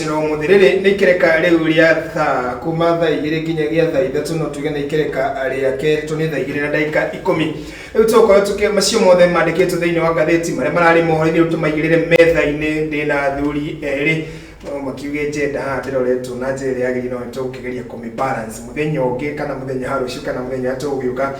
na umuthi riri ni ikereka riu ria thaa kuma thaa igiri nginyagia thaa ithatu no tuge ni ikereka ria keri to ni thaa igiri na ndagika ikumi riu tugukorwo tuki macio mothe mandikitwo thiini wa ngatheti maria marari mohoro-ini riu tumaigirire metha-ini ndi na athuri eri no makiuge njenda haha ndiroretwo na njira iria yagirire no nitugukigeria kumi balance muthenya ungi kana muthenya ha ruciu kana muthenya uria tugugiuka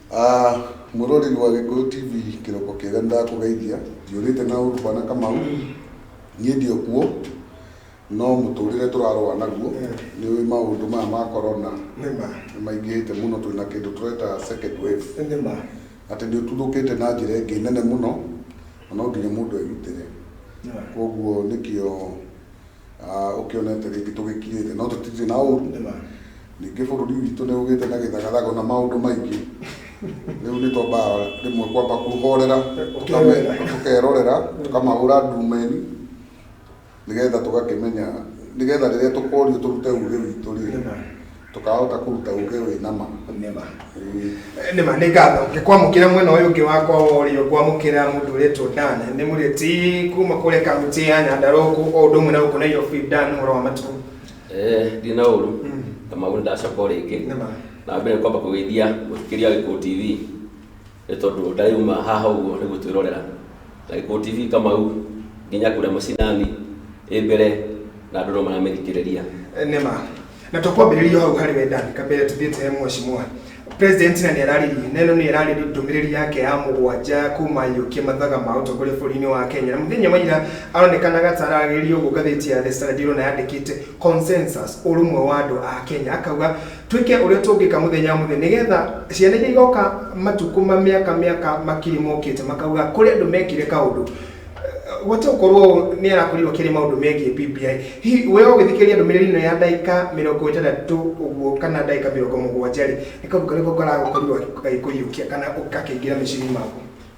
Ah, mwĩroreri wa Gĩkũyũ TV kĩroko kĩega nĩ ndakũgeithia ndiũrĩte na ũru bwana Kamau niĩ ndio kuo no mũtũrĩre tũrarũa naguo nĩ ũĩ maũndũ maya ma korona nĩma nĩ maingĩhĩte mũno twĩ na kĩndũ tũreta second wave nĩma atĩ nĩ ũtuthũkĩte na njĩra ĩngĩ nene mũno na no nginya mũndũ erutĩre nĩma koguo nĩkĩo Ah, ũkĩonete rĩngĩ tũgĩkirĩte no tũtirĩ na ũru Nĩma. ningĩ bũrũri witũ nĩ ũgĩte na gĩthagathago na maũndũ maingĩ rĩu nĩ twambaga rĩmwe kwamba kuhorera tũkame- Ũkerorera. tũkerorera tũkamahũra ndumeni nĩgetha tũgakĩmenya nĩgetha rĩrĩa tũkorio tũrute uge witũ rĩ Nĩma. tũkahota kũruta uge wĩ nama nĩma nĩma nĩ ngatho ngĩkwamũkĩra mwena ũyũ ũngĩ wakwa wa ũrĩo ngwamũkĩra mũndũ ũretwo dan nĩ mũrĩti kuma kũrĩa kaunti ya nyandarũa gũkũ o ũndũ ũmwe na gũkũ nairobi dan ũhoro wa matukũ Eh, ndirĩ na ũru Mm. na maũndũ ndacoka o rĩngĩ Nĩma. na mbere kwamba kũgeithia mũthikĩria wa gĩkũũ tv nĩ tondũ ndarauma haha ũguo nĩ gũtwĩrorera na gĩkũ tv kamau nginya kũrĩa macinani ĩ mbere na andũ no maramĩthikĩrĩria nema na tũkwambĩrĩria o hau harĩ wendani kambere tũthiĩte he mweshimwa president na nĩ ararĩrie na ĩno nĩ ararĩrie ndũmĩrĩri yake ya mũgwanja kuma yũkie mathaga ma ũtongoria bũrũri-inĩ wa kenya na mũthenya wa ira aronekanaga ta ararĩrĩria ũguo ngathĩti ya the standard ĩrona yandĩkĩte consensus ũrũmwe wa andũ a kenya akauga Twĩke ũrĩa tũngĩka mũthenya mũthenya nĩgetha ciana iria igoka matukũ ma mĩaka mĩaka makiri mokĩte makauga kũrĩ andũ mekire kaũndũ gwata gũkorwo nĩ arakorire akĩaria maũndũ megiĩ BBI. Hihi we ũgĩthikĩrĩria ndũmĩrĩri ĩno ya ndagĩka mĩrongo ĩtandatũ ũguo kana ndagĩka mĩrongo mũgwanja rĩ, nĩ kaũndũ karĩkũ karagũkorirwo gagĩkũiyũkia kana gakĩingĩra meciria-inĩ maku?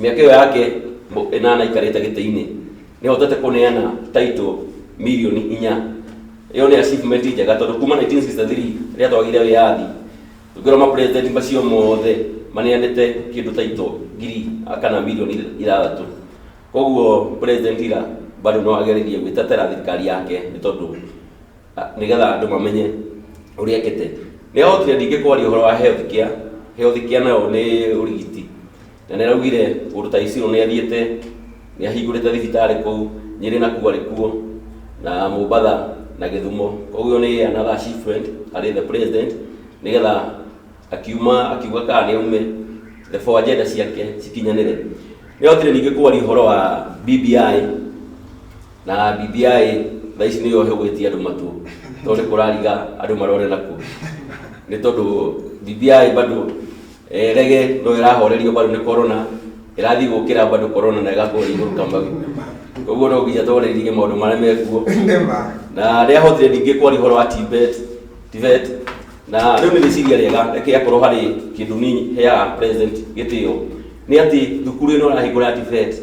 mĩaka ĩyo yake mũ- ĩnana aikarĩte gĩtĩ-inĩ nĩhotete kũneana title milioni inya ĩyo nĩ achievement njega tondũ kuma 1963 rĩrĩa twagĩire wĩyathi ngĩrwo ma president macio mothe maneanĩte kĩndũ title ngiri kana milioni ithathatũ koguo president ira bado no agererie gwĩtetera thirikari yake nĩ tondũ nĩgetha andũ mamenye ũrĩa ekĩte nĩ ahotire ningĩ kwaria ũhoro wa health care health care nayo nĩ ũrigiti na nĩ araugire kũndũ ta iciro nĩ athiĩte nĩ ahingũrĩte thibitarĩ kũu nyĩrĩ na kuarĩ kuo na mombatha na gĩthumo koguo nĩ another achievement harĩ the president nĩgetha akiuma akiuga kana nĩ aume the four agenda ciake cikinyanĩre nĩ ahotire ningĩ kwaria ũhoro wa BBI Na bibia ĩ, thaa ici nĩyo hegwetie andũ matũ tondũ nĩ kũrariga andũ marore naku nĩ tondũ bibia ĩ bado eh, rege no ĩrahorerio bado nĩ corona ĩrathiĩ gũkĩra bado corona na ĩgakorwo igũrũ kamau koguo no nginya twarĩrĩrie maũndũ marĩa mekuo Nĩma. na rĩa hotire ndingĩ kwaria ũhoro wa tibet tibet na rĩu nĩ rĩciria rĩega reke akorwo harĩ kĩndũ nini heaga president gĩtĩo nĩ atĩ thukuru ĩno ĩrahingũra ya tibet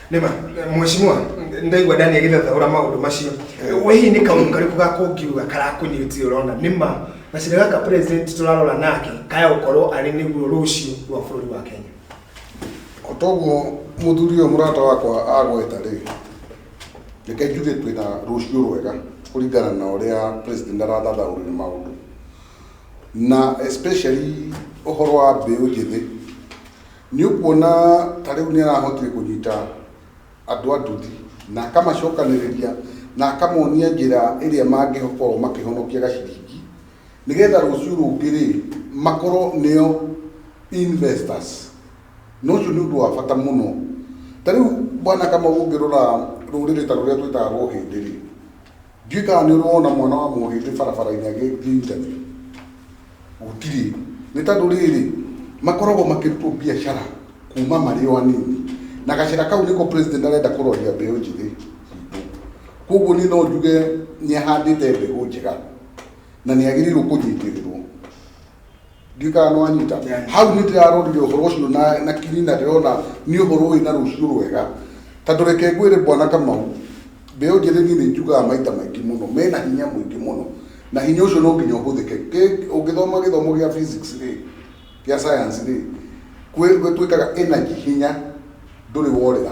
nĩma mheshimiwa ndaigua ndani agĩthathaũra maũndũ macio we hihi nĩ kaũndũ karĩkũ gakũngiuga karakũnyitire ũrona nĩma gacĩra gaka president tũrarora nake kaya gũkorwo arĩ nĩguo rũciũ rwa bũrũri wa kenya o toguo mũthuri ũyũ mũrata wakwa agweta rĩ reke njuge twĩna rũciũ rwega kũringana na ũrĩa president arathathaũrĩra maũndũ na especially ũhoro wa mbeũ njĩthĩ Nĩ ũkuona ta rĩu nĩ arahotire kũnyita andũ a nduthi na akamacokanĩrĩria na akamonia njĩra ĩrĩa mangĩkorwo makĩhonokia gaciringi nĩgetha rũciũ rũngĩ rĩ makorwo nĩo investors na ũcio nĩ ũndũ wa bata mũno ta rĩu bwana kamau ũngĩrora rũrĩrĩ ta rũrĩa twĩtaga rwa ũhĩndĩ rĩ Ndiũĩ kana nĩ ũrona mwana wa mũgĩmbĩ barabara-inĩ agĩthiĩ interview. Gũtirĩ. Nĩ tondũ rĩrĩ, makoragwo makĩrutwo biacara kuma marĩ o anini. Na gacĩra kau nĩko president arenda kũroria mbeũ njĩthĩ itũ. Koguo niĩ no njuge nĩ ahandĩte mbegũ njega na nĩ agĩrĩirwo kũnyitĩrĩrwo. Ndika no anyita. Hau nĩ ndĩrarorire ũhoro ũcio na, na kinyi na ndĩrona nĩ ũhoro ũrĩ na rũciũ rwega. Ta ndũreke ngwĩre Bwana Kamau, mbeũ njĩthĩ niĩ nĩ njugaga maita maingĩ mũno, mena hinya mũingĩ mũno. Na hinya ũcio no nginya ũhũthĩke. Kĩ- Ũngĩthoma gĩthomo gĩa physics rĩ, gĩa science rĩ, kwĩ- gwĩtwĩkaga energy hinya ndũrĩ worĩra.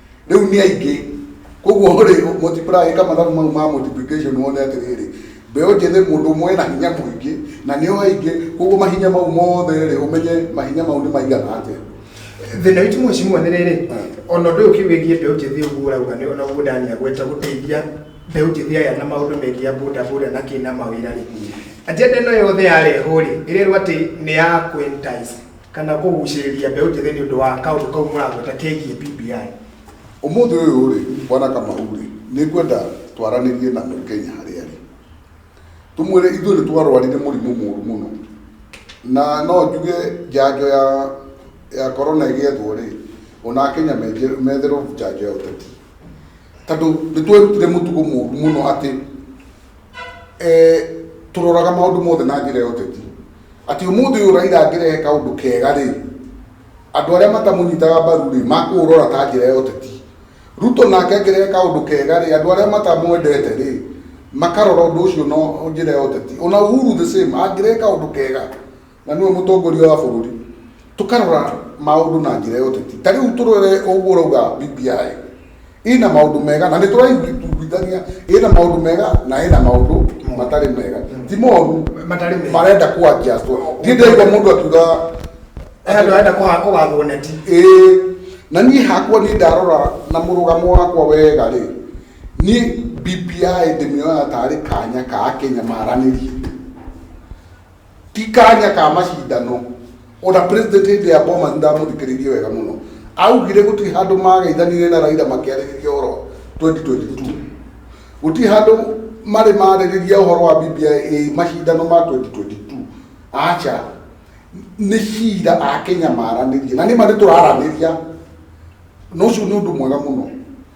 rĩu nĩ aingĩ koguo rĩ multiply ka mathabu mau ma multiplication wone atĩrĩrĩ mbeũ njĩthĩ mũndũ ũmwe ena hinya mũingĩ na nĩo aingĩ koguo mahinya mau mothe rĩ ũmenye mahinya mau nĩ maigana atĩa thĩna witũ mwecimua nĩ rĩrĩ ona ũndũ ũyũ kĩwĩgiĩ mbeũ njĩthĩ ũguo ũrauga nĩ ona ũguo ndani agweta gũteithia mbeũ njĩthĩ aya na maũndũ megiĩ ya boda boda na kĩ na mawĩra rĩ agenda ĩno yothe yarehwo rĩ ĩrerwo atĩ nĩ ya kũ entice kana kũgucĩrĩria mbeũ njĩthĩ nĩ ũndũ wa kaũndũ kau mũragweta kegiĩ BBI? Ũmũthĩ ũyũ rĩ, bwana Kamau rĩ, nĩ ngwenda twaranĩrie na Mũkenya harĩa arĩ. Tũmwĩre ithuĩ nĩ twarwarire mũrimũ mũru mũno. Na no njuge njanjo ya ya corona ĩgĩethwo rĩ, ona Akenya menje- metherwo njanjo ya ũteti. Tondũ nĩ twerutire mũtugo mũru mũno atĩ eh, tũroraga maũndũ mothe na njĩra ya ũteti atĩ ũmũthĩ ũyũ raira angĩrehe kaũndũ kega rĩ andũ arĩa matamũnyitaga mbaru rĩ makũũrora ta njĩra ya ũteti ruto nake angĩrehe kaũndũ kega rĩ andũ arĩa matamwendete rĩ makarora ũndũ ũcio na njĩra ya ũteti ona uhuru the same angĩrehe kaũndũ kega na nĩwe mũtongoria wa bũrũri tũkarora maũndũ na njĩra ya ũteti ta rĩu tũrore ũguo ũrauga BBI ina maũndũ mega na nĩ tũraiguithania ina maũndũ mega na ina maũndũ matarĩ mega ti moru Matarĩ mega. marenda kwanjia ndiĩ ndaigua mũndũ akiuga Aya andũ arenda kũha- kũgathwo neti ĩĩ na niĩ hakwa niĩ ndarora na mũrũgamo wakwa wega rĩ niĩ BBI ndĩmĩoyaga tarĩ kanya ka akenya maranĩrie ti kanya ka macindano ona president hĩndĩ ya bomas ndamuthikiririe wega muno augire gutiri handu magaithanire na raira makiaririria uhoro 2022 gutiri handu mari maririria uhoro wa bbi eh, macindano ma 2022 acha ni cira a kenya maranirie na ni mari turaraniria na ucio ni undu mwega muno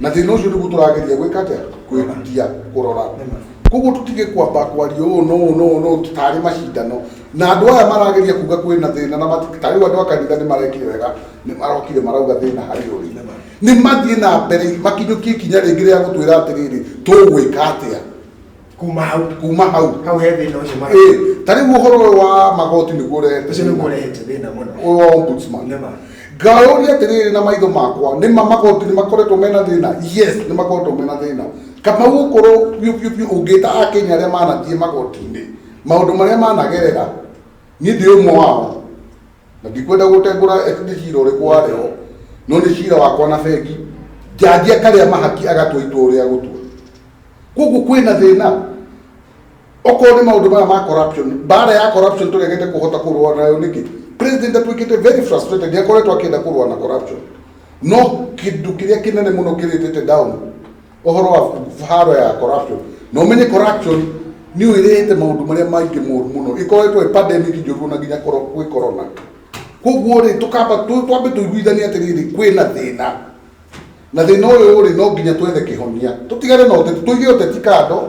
na thina ucio niguo turageria gwika atia kwikutia kurora koguo tutige kwamba kwaria ũũ no ũũ no ũũ no ũũ tarĩ macindano na andũ aya marageria kuga kwĩna thĩna na mati- ta rĩu andũ a kanitha nĩ marekire wega nĩ marokire marauga thĩna harĩ ũrĩ nĩ mathiĩ na mbere makinyũkie ikinya rĩngĩ rĩa gũtwĩra atĩrĩrĩ tũgwĩka atĩa kuma hau kuma hau hau he thina ucio mara eh ta riu uhoro uyu wa magoti niguo urehete ucio niguo urehete thina muno uyu wa ombudsman nema ngaũria atĩrĩrĩ na maitho makwa nĩ ma magoti nĩ makoretwo mena thĩna yes nĩ makoretwo mena thĩna kamau gũkorwo biũ biũ biũ ũngĩta akenya arĩa manathiĩ magoti-inĩ maũndũ marĩa managerera niĩ ndĩ ũmwe wao na ndikwenda gũtengũra eti nĩ cira ũrĩkũ warĩ ho no nĩ cira wakwa na bengi njanji akarĩa mahaki agatua itua ũrĩa gũtua koguo kwĩna thĩna okorwo nĩ maũndũ maya ma corruption mbara ya corruption tũregete kũhota kũrũa nayo nĩkĩ president atuĩkĩte very frustrated nĩakoretwo akĩenda kũrũa na corruption no kĩndũ kĩrĩa kĩnene mũno kĩrĩtĩte down ũhoro wa haro ya corruption na ũmenye corruption nĩ ũirehete maũndũ marĩa maingĩ moru mũno ikoretwo ĩ pandemic njũru na nginya koro- gwĩ corona koguo rĩ tũkamba tũ- twambe tũiguithanie atĩrĩrĩ kwĩ na thĩna na thĩna ũyũ rĩ no nginya twethe kĩhonia tũtigane na ũteti tũige ũteti kando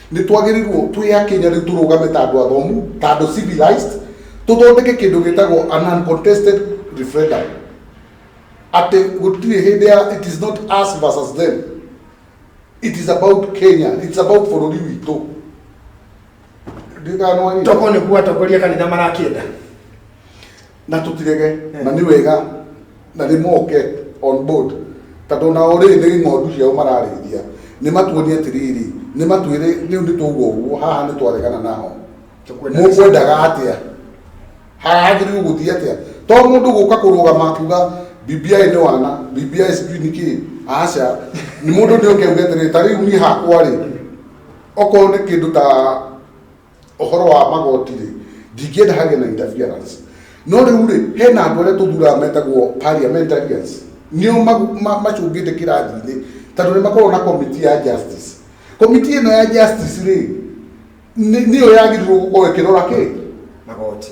Nĩ twagĩrĩirũo twĩ akĩnya rĩu tũrũgame ta andũ athomu, ta andũ civilized, tũthondeke kĩndũ gĩtagwo an uncontested referendum. Atĩ gũtirĩ hĩndĩ ya it is not us versus them. It is about Kenya. It's about bũrũri witũ. Ndiũĩ kana nĩ wanyita. Toko nĩguo atongoria kanitha marakĩenda. na tũtirege na nĩ wega na nĩ moke on board tondũ nao rĩ nĩ ng'ondu ciao mararĩithia nĩ matuonie atĩrĩrĩ nĩ matwĩre rĩu nĩ tũgwo ũguo haha nĩ twaregana nao Tũkwenda mũkwendaga atĩa haragĩrĩirwo gũthiĩ atĩa to mũndũ gũka kũrũgama kuga BBI nĩ wana BBI sijui nĩ kĩ aca nĩ mũndũ nĩ ũkeuga atĩrĩrĩ ta rĩu niĩ hakwa rĩ okorwo nĩ kĩndũ ta ũhoro wa magoti rĩ ndingĩenda hagĩe na interference no rĩu rĩ hena andũ arĩa tũthuraga metagwo parliamentarians nĩo macũngĩte kĩrathi-inĩ tondũ nĩ makoragwo na komiti ya justice komiti ĩno ya justice rĩ nĩyo yagĩrĩirwo gũkorwo ĩkĩrora kĩ magoti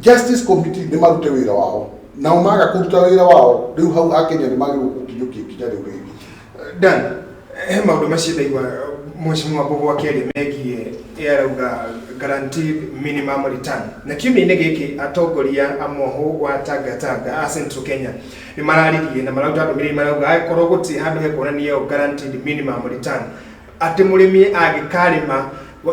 Justice Committee nĩ marute wĩra wao nao maga kũruta wĩra wao rĩu hau akenya nĩ magĩrĩirwo kũkinyũkia ikinya rĩu rĩngĩ Dan, he maũndũ macio ndaigua mheshimiwa Mbogo akĩaria megiĩ ĩ arauga guaranteed minimum return na kiumia-inĩ gĩkĩ atongoria a mohũ wa Tanga Tanga a Central Kenya nĩ mararirie na mararuta ndũmĩrĩri marauga angĩkorwo gũtirĩ handũ hekuonania ĩyo guaranteed minimum return atĩ mũrĩmi angĩkarĩma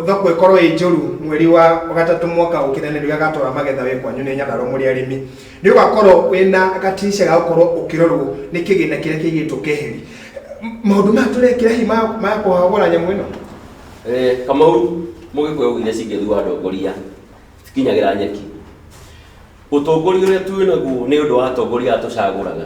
thoko ĩkorwo ĩ njũru mweri wa gatatũ mwaka ũkĩra nĩ rĩo agatwara magetha we kwanyu nĩ nyandarwa mũrĩ arĩmi nĩ ũgakorwo wĩna gatirisha ga gũkorwo ũkĩrorwo nĩ kĩgĩna kĩrĩa kĩigĩtwo keheri maũndũ maya tũrekĩra hi ma ma kũhagũra nyamũ ĩno Eh, kamau mũgĩkũyũ augire cingĩthua ndongoria cikinyagĩra nyeki ũtongoria ũrĩa twĩ naguo nĩ ũndũ wa atongoria aya tũcagũraga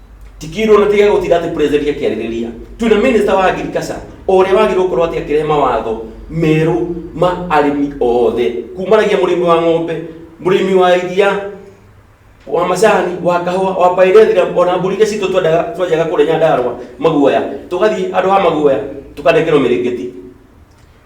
tikirwo na tiga gutira ati president akiaririria twina minister wa agriculture uria wagirwo gukorwo ati akirehe mawatho meru ma arimi othe kumaragia murimi wa ng'ombe murimi wa iria wa macani wa kahua wa pairethira ona mburi iria citå twenjaga kå rä nyandarwa maguoya tå gathiä andå a maguoya tå kanekerwo mä rä ngä ti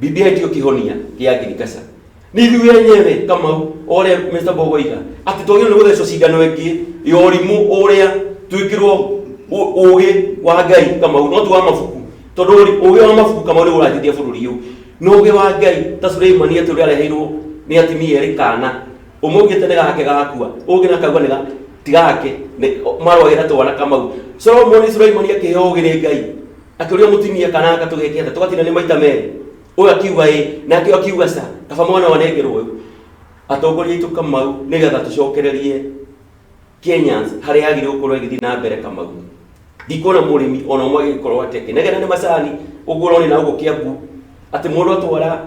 Bibi aitio kihonia kia agriculture ni ithuĩ enyewe kamau ũrĩa Mr. Bogo iga atĩ twagĩrĩirwo nĩ gũthecwo cindano ĩngĩ ya ũrimũ ũrĩa twĩkĩrwo ũ- ũũgĩ wa ngai kamau no tu wa mabuku tondũ ũri- ũũgĩ wa mabuku kamau nĩ ũranjĩtia bũrũri ũyũ no ũũgĩ wa ngai ta Suleimani atĩ ũrĩa areheirwo nĩ atimia erĩ kana ũmwe augĩte nĩ gake gakua ũngĩ na akauga nĩ ga ti gake nĩ- marwagĩra twana kamau Solomoni Suleimani akĩheo ũũgĩ nĩ ngai akĩũria mũtumia kana anga tũgeke atĩa tũgatina nĩ maita merĩ ũyũ akiuga ĩ nake ũyũ akiuga ca kaba mwana wanengerwo ũyũ atongoria aitũ kamau nĩgetha tũcokererie kenyans harĩa agĩrĩ gũkorwo ĩgĩthiĩ na mbere kamau ndikuona mũrĩmi ona ũmwe agĩkorwo ateke negena nĩ macani ũguo ũrone na ũguo kĩambu atĩ mũndũ atwara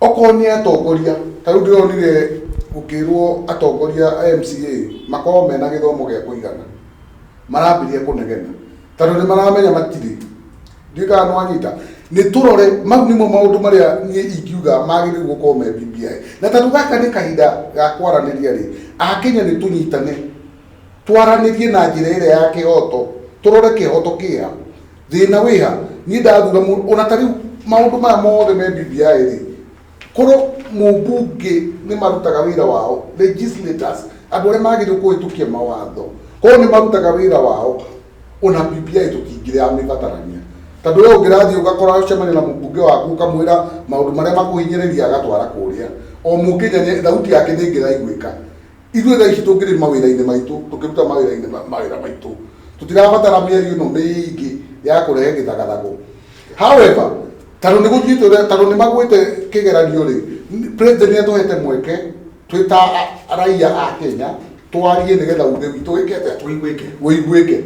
okorwo nĩ atongoria tarĩu ndĩronire gũkĩrwo atongoria a MCA makorwo mena gĩthomo gĩa kũigana marambĩrĩria kũnegena tondũ nĩ maramenya matirĩ ndiũĩ kana nĩwanyita nĩ tũrore mau nĩmo maũndũ marĩa niĩ ingiuga magĩrĩirwo gũkorwo me BBI na tondũ gaka nĩ kahinda ga kwaranĩria rĩ akenya nĩ tũnyitane twaranĩrie na njĩra ĩrĩa ya kĩhoto tũrore kĩhoto kĩha thĩna wĩha niĩ ndathura mũndũ ona ta rĩu maũndũ maya mothe me BBI rĩ korwo mũmbunge nĩ marutaga wĩra wao legislators andũ arĩa magĩrĩirwo kũhĩtũkia mawatho korwo nĩ marutaga wĩra wao ona BBI tũtingĩrĩ ya mĩbatarania tondũ we ũngĩrathiĩ ũgakora ũcemania na mũmbunge waku ũkamwĩra maũndũ marĩa makũhinyĩrĩria agatwara kũrĩa o mũkenya nĩ- thauti yake nĩ ĩngĩraiguĩka Ithuĩ thaa ici tũngĩrĩ mawĩra-inĩ maitũ, tũkĩruta mawĩra-inĩ ma- mawĩra maitũ, tũtirabatara mĩario ĩno mĩingĩ ya kũrehe gĩthagathago. However, tondũ nĩ gũthiĩte ũrĩa- tondũ nĩ magwĩte kĩgeranio-rĩ, n- president nĩ atũhete mweke twĩ ta a- raiya a Kenya twarie nĩgetha uge witũ wĩke atĩa? Ũiguĩke. ũiguĩke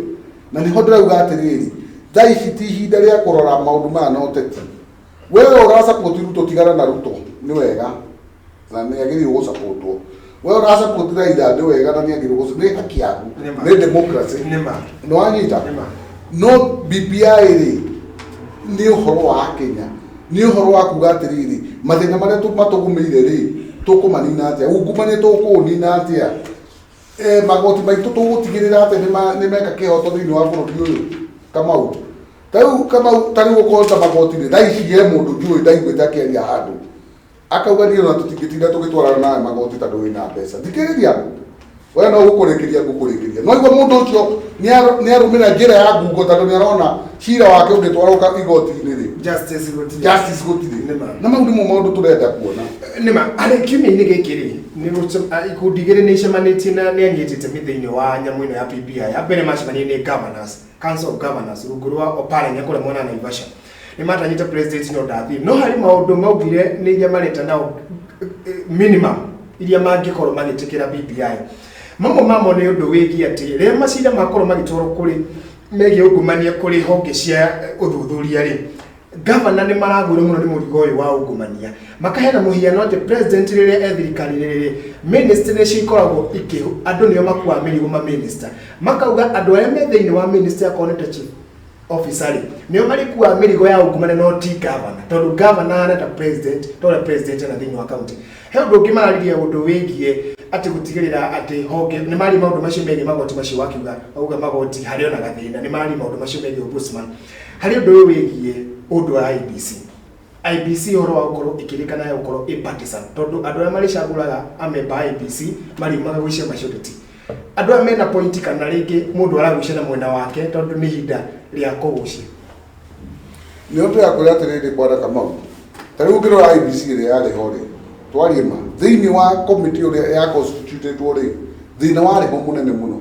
na nĩho ndĩrauga atĩrĩrĩ thaa ici ti ihinda rĩa kũrora maũndũ maya na ũteti wewe urasapoti ruto tigana na ruto nĩ wega na nĩ agĩrĩirwo gũsapotwo wewe urasapoti raitha nĩ wega na nĩ agĩrĩirwo gũsa- nĩ haki yaku Nĩ ma. nĩ democracy Nĩ ma. nĩ wanyita Nĩ ma. no bbi rĩ nĩ ũhoro wa kenya nĩ ũhoro wa kuga atĩrĩrĩ mathĩna marĩa tũ- matũgũmĩire rĩ tũkũmanina atĩa ungumania tũkũũnina atĩa Eh, magoti maitũ tũgũtigĩrĩra atĩ nĩ ma- nĩ meka kĩhoto thĩinĩ wa bũrũri ũyũ kamau ta rĩu kamau ta rĩu ũkorwo ta magoti-rĩ thaa ici he mũndũ njũĩ ndaiguĩte akĩaria handũ akauga niĩ ona tũtingĩtinda tũgĩtwarana nawe magoti tondũ wĩ na mbeca thikĩrĩria we no gũkũrĩkĩria ngũkũrĩkĩria no igua mũndũ ũcio nĩar- nĩarũmĩrĩra njĩra ya ngungo tondũ nĩarona cira wake ũngĩtwarwo ka- igoti-inĩ-rĩ justice gũtirĩ justice gũtirĩ Nĩma. na mau nĩmo maũndũ tũrenda kuona nĩma arĩ kiumia-inĩ gĩkĩ rĩ nĩ gũce- a- ikundi igĩrĩ nĩ icemanĩtie na nĩ anyitĩte mĩ thĩinĩ wa nyamũ ĩno ya PBI ya mbere macemanĩire nĩ governors Council of Governors rungu rwa Oparanya kũrĩa mwena wa Naivasha nĩ matanyĩte president no ndathiĩ no harĩ maũndũ maugire nĩ iria mareta nao eh, eh, minimum iria mangĩkorwo magĩtĩkĩra BBI mamwe mamo nĩ ũndũ wĩgiĩ atĩ rĩrĩa macira makorwo magĩtwarwo kũrĩ megiĩ ungumania kũrĩ honge cia eh, ũthuthuria rĩ Governor nĩ maragũire mũno nĩ mũrigo ũyũ wa ungumania. Makaheana mũhiano atĩ president rĩrĩa e thirikari-inĩ rĩrĩ, ministry nĩcio ikoragwo ikĩ andũ nĩo makuaga mĩrigo ma minister. Makauga andũ arĩa me thĩinĩ wa ministry akorwo nĩ ta chief officer rĩ, nĩo marĩkuaga mĩrigo ya ungumania no ti governor. Tondũ governor ahana ta president, ta ũrĩa president ena thĩinĩ wa county. He ũndũ ũngĩ mararirie ũndũ wĩgiĩ atĩ gũtigĩrĩra atĩ honge, nĩ mararia maũndũ macio megiĩ magoti macio wakiuga, wauga magoti harĩ ona gathĩna. Nĩ mararia maũndũ macio megiĩ ombudsman. Harĩ ũndũ ũyũ wĩgiĩ ũndũ wa IEBC, IEBC ũhoro wa gũkorwo ĩkĩrĩkana ya gũkorwo ĩ partisan, tondũ andũ arĩa marĩcagũraga amemba a IEBC mariumaga gwĩ ciama icio tũti andũ aya mena point kana rĩngĩ mũndũ aragucia na mwena wake tondũ nĩ ihinda rĩa kũgucia. Nĩ ũndũ ya kwĩra atĩrĩrĩ bwana Kamau, ta rĩu ũngĩrora IEBC ĩrĩa yarĩ ho rĩ, twarie ma, thĩinĩ wa committee ũrĩa ya constitute-two rĩ, thĩna warĩ ho mũnene mũno.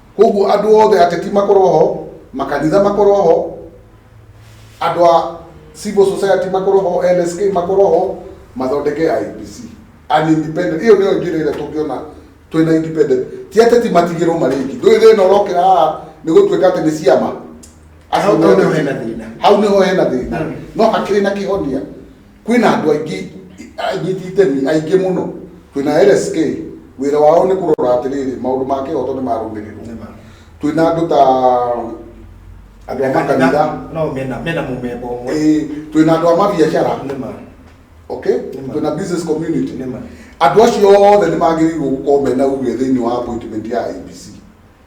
Koguo andũ othe ateti makorwo ho, makanitha makorwo ho, andũ a civil society makorwo ho, LSK makorwo ho, mathondeke IEBC. An independent. Ĩyo nĩyo njĩra ĩrĩa tũngĩona twĩna independent. Ti ateti matigĩrwo marĩ aiki. Ndũĩ thĩna ũrokĩra haha nĩ gũtuĩka atĩ nĩ ciama. Hau nĩho hena thĩna. Hau nĩho hena thĩna. No hakĩrĩ na kĩhonia. kwĩna andũ aingĩ anyiti itemi aingĩ mũno twĩna LSK wĩra wao nĩ kũrora atĩrĩrĩ maũndũ ma kĩhoto nĩ marũmĩrĩrwo twĩna andũ ta andũ a makanitha no mena mena mũmemba ũmwe eh, twĩna andũ a mabiacara nĩma okay Nĩma. twĩna business community nĩma andå acio othe nä magä rä irwo gå korwo mena uge thä inä wa appointment ya abc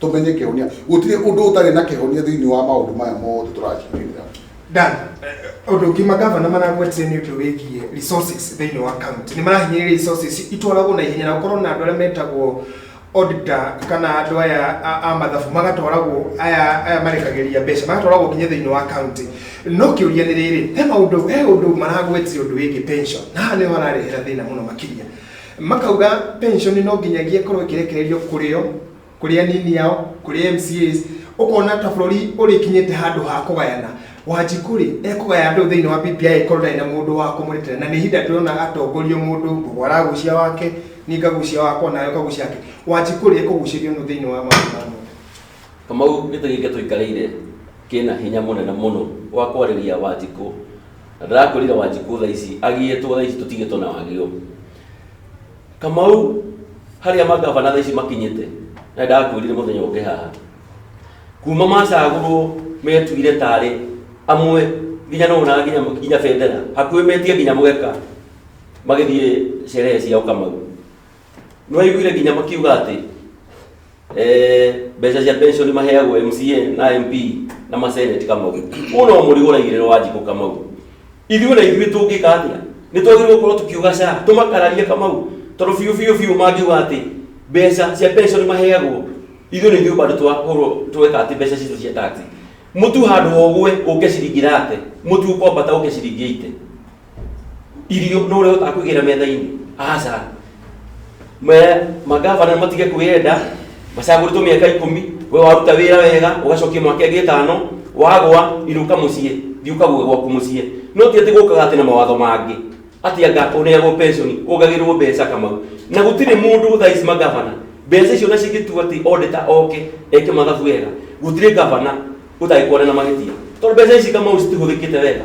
tũmenye kĩhonia gũtirĩ ũndũ ũtarĩ na kĩhonia thĩinĩ wa maũndũ maya mothe tũracirĩrĩra Dan, ũndũ ũngĩ magavana maragwetire nĩ ũndũ wĩgiĩ resources thĩinĩ wa county nĩ marahinyĩrĩria resources itwaragwo na ihenya na gũkorwo na andũ arĩa metagwo auditor kana andũ aya a- a mathabu magatwaragwo aya aya marekagĩria mbeca magatwaragwo nginya thĩinĩ wa county no kĩũria nĩ rĩrĩ he maũndũ he ũndũ maragwetire ũndũ wĩgiĩ pension na haha nĩho hararehera thĩna mũno makĩria makauga pension no nginyagia ĩkorwo ĩkĩrekererio kũrĩo kũrĩ anini ao kũrĩ MCAs ũkona ta bũrũri ũrĩkinyĩte handũ ha kũgayana wanjikũ rĩ ekũgaya andũ thĩinĩ wa BBI ĩkorwo ndarĩ na mũndũ wa kũmũrĩtĩra na nĩ ihinda tũrona atongorio mũndũ ngũgũ aragucia wake niĩ ngagucia wakwa nawe ũkagucia wake wanjikũ rĩ ekũgucĩrio nũ thĩinĩ wa maũndũ ma mũndũ kamau gĩtĩ gĩkĩ tũikarĩire kĩna hinya mũnene mũno wa kwarĩria wanjikũ na ndĩrakwĩrire wanjikũ thaa ici agiyĩtwo thaa ici tũtigĩtwo na wagio kamau harĩa magavana thaa ici makinyĩte na ndakwĩrire mũthenya ũngĩ haha kuma macagũrwo metuire tarĩ amwe nginya no na nginya nginya bendera hakuhĩ metie nginya mũgeka magĩthiĩ sherehe ciao kamau nĩwaiguire nginya makiuga atĩ Eh, mbeca cia pension maheagwo mca na mp na maseneti kamau ũũ no mũrigo ũraigĩrĩrwo wa njikũ kamau ithuĩ na ithuĩ tũngĩka atĩa nĩ twagĩrĩirwo gũkorwo tũkiuga ca tũmakararie kamau tondũ biũ biũ biũ mangiuga atĩ mbeca cia pension maheagwo ithuĩ na ithuĩ bado twahũrwo tweka atĩ mbeca citũ cia taxi mũtu handũ hogwe ũke ciringi rate mũtu ũkombata ũke ciringi ite irio no ũrĩa ũtaga kũigĩra metha-inĩ aca me magavana nĩ matige kwĩyenda macagũrĩtwo mĩaka ikũmi we waruta wĩra wega ũgacokia mwaka ĩngĩ ĩtano wagwa inũka mũciĩ thiĩ ũkague gwaku mũciĩ no ti atĩ gũkaga atĩ na mawatho mangĩ atĩ anga ũneagwo pension ũgagĩrwo mbeca kamau na gũtirĩ mũndũ thaa ici magavana mbeca icio na cingĩtua atĩ odita oke eke mathabu wega gũtirĩ gavana ũtagĩkwana na mahĩtia tondũ mbeca ici kamau citihũthĩkĩte wega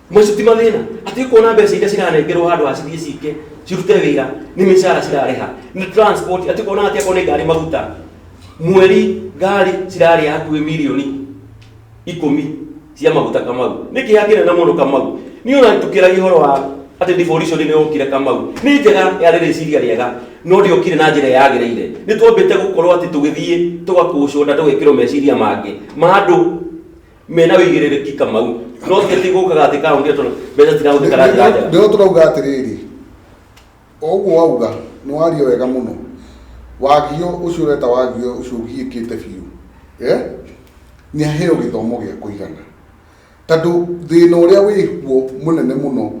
Mũico ti mathĩna atĩ kuona mbeca iria ciranengerwo handũ ha cithiĩ cike cirute wĩra nĩ mĩcara cirarĩha nĩ transport atĩ kuona atĩ akorwo nĩ ngari maguta mweri ngari cirarĩa hakuhĩ milioni ikũmi cia maguta kamau nĩ kĩeha kĩnene mũno kamau niĩ ona tũkĩragia ũhoro wa atĩ devolution nĩ yokire kamau nĩ njega yarĩ rĩciria rĩega no ndĩokire na njĩra yagĩrĩire nĩ twambĩte gũkorwo atĩ tũgĩthiĩ tũgakũcwo nda tũgekĩrwo meciria mangĩ ma andũ mena wĩigĩrĩrĩki kamau no ti atĩ gũkaga atĩ kaũnti tondũ mbeca cirahũthĩka na njĩra njega nĩho tũrauga atĩrĩrĩ ũguo wauga nĩ wario wega mũno wagio ũcio ũreta wagio ũcio ũgiĩkĩte biũ eh? nĩ aheo gĩthomo gĩa kũigana tondũ thĩna ũrĩa wĩkuo mũnene mũno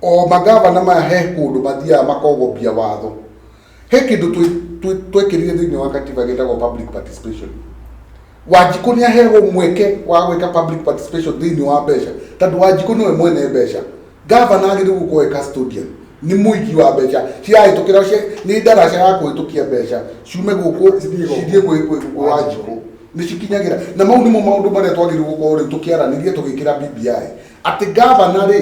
o magavana maya he kũndũ mathiaga makogobia watho he kĩndũ twekĩrire thĩinĩ wa katiba gĩtagwo public participation wanjikũ nĩ aheagwo mweke wa gwĩka public participation thĩinĩ wa mbeca tondũ wanjikũ nĩwe mwene mbeca gavana agĩrĩirwo gũkorwo e custodian nĩ mũigi wa mbeca cirahĩtũkĩra nĩ ndaraca ya kũhĩtũkia mbeca ciume gũkũ cithiĩ gwĩ wanjikũ nĩ cikinyagĩra na mau nĩmo maũndũ marĩa twagĩrĩirwo gũkorwo rĩu tũkĩaranĩria tũgĩkĩra BBI atĩ gavana rĩ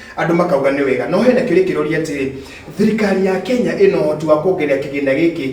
Andũ makauga nĩ wega. No hena kĩũria kĩroria atĩrĩ, thirikari ya Kenya ĩna ũhoti wa kuongerera kĩgĩna gĩkĩ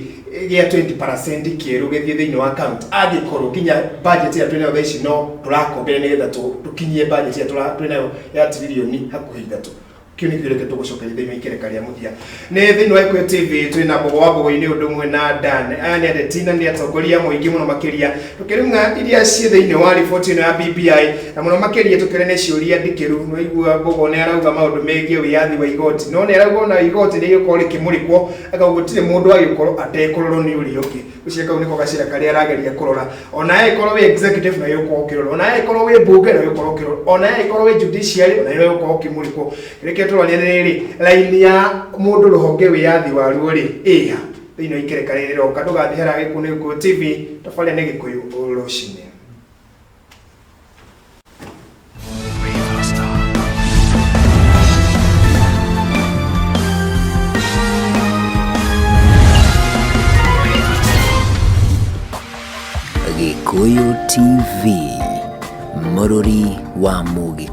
gĩa 20% kĩerũ gĩthiĩ thĩinĩ wa county angĩkorwo nginya budget ĩrĩa twĩnayo thaa ici no tũrakombere nĩgetha tũkinyie budget ĩrĩa twĩnayo ya tiririoni hakuhĩ ithatũ? Kĩu nĩ kĩũria kĩrĩa tũgũcokeria thĩinĩ wa ikereka rĩa mũthia. Nĩ thĩinĩ wa Ikuyu TV twĩ na Mbogo wa Mbogo-inĩ ũndũ ũmwe na Dan. Aya nĩ ateti na nĩ atongoria mũingĩ mũno makĩria tũkĩrung'a iria ciĩ thĩinĩ wa riboti ĩno ya BBI na mũno makĩria tũkĩrĩ nĩ ciũria ndikĩru. Nĩ waigua Mbogo nĩ arauga maũndũ megiĩ wĩyathi wa igoti no nĩ arauga ona igoti nĩ rĩgũkorwo rĩkĩmũrĩkwo koguo gũtirĩ mũndũ agĩkorwo atekũrorwo nĩ ũrĩa ũngĩ. Gacira kau nĩko gacira karĩa arageria kũrora ona we ĩkorwo wĩ executive nayo ũkorwo ũkĩrora ona we ĩkorwo wĩ mbunge nayo ũkorwo ũkĩrora ona we ĩkorwo wĩ judiciary nayo ũkorwo ũkĩmũrĩkwo reke tũrorane rĩrĩ raini ya mũndũ rũhonge wĩyathi waruo rĩ ĩha thĩinĩ wa ikereka rĩrĩ roka ndũgathiĩ harĩa gĩkũyũ nĩ gĩkũyũ tv tabarĩra nĩ gĩkũyũ rũcinĩ Gĩkũyũ TV, mũrũri wa Mũgĩkũyũ.